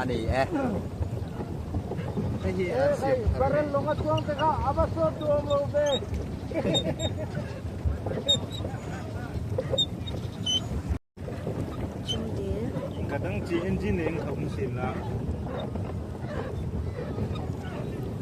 ani e. Hei hi an siam thar ani. Long a chuang te kha ava sawt tu awm lo be. Ka dang chi engine in ka hum sin la.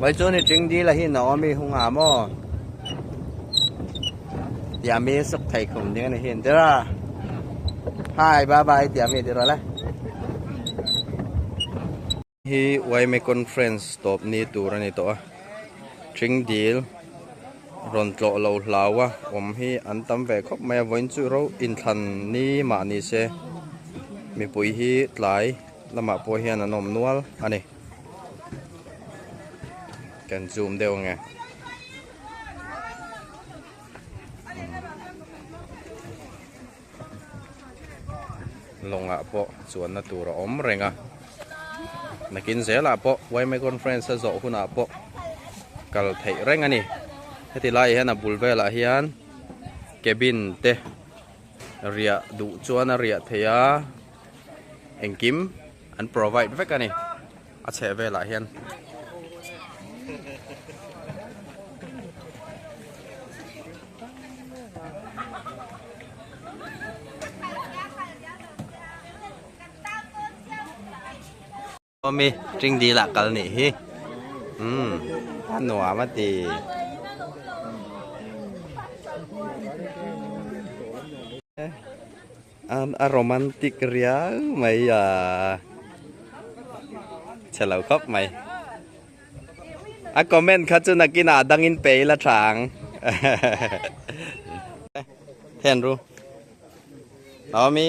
Mai chu ni tling dil a hi no ami hu nga maw tia mi suk thei khum ding ani hin tira hi bye bye tia mi tiro le Hi Uaime Conference tawpni tur a ni tawh a, Tring dil rawn tlawh lo hlau a awm hi an tam ve khawp mai a, vawiin chu ro inthlan ni mah ni se mipui hi tlai lamah pawh hian an awm nual a ni. Kan zoom deuh nge. lawngah pawh chuanna tur a awm reng a, nakin zelah pawh Yme Conference a zawh hunah pawh kal theih reng a ni. Heti laiah hian a bul velah hian cabin te riah duh chuan a riah theih a, engkim an provide vek a ni. A chheh velah hian Mami, ring dil ah kal nih hi. Um, a nuam a ti. A romantic riau mai a, chhe lo khawp mai. A comment kha chu nakinah a dangin pe ila tha ang. Hen ru. Naomi.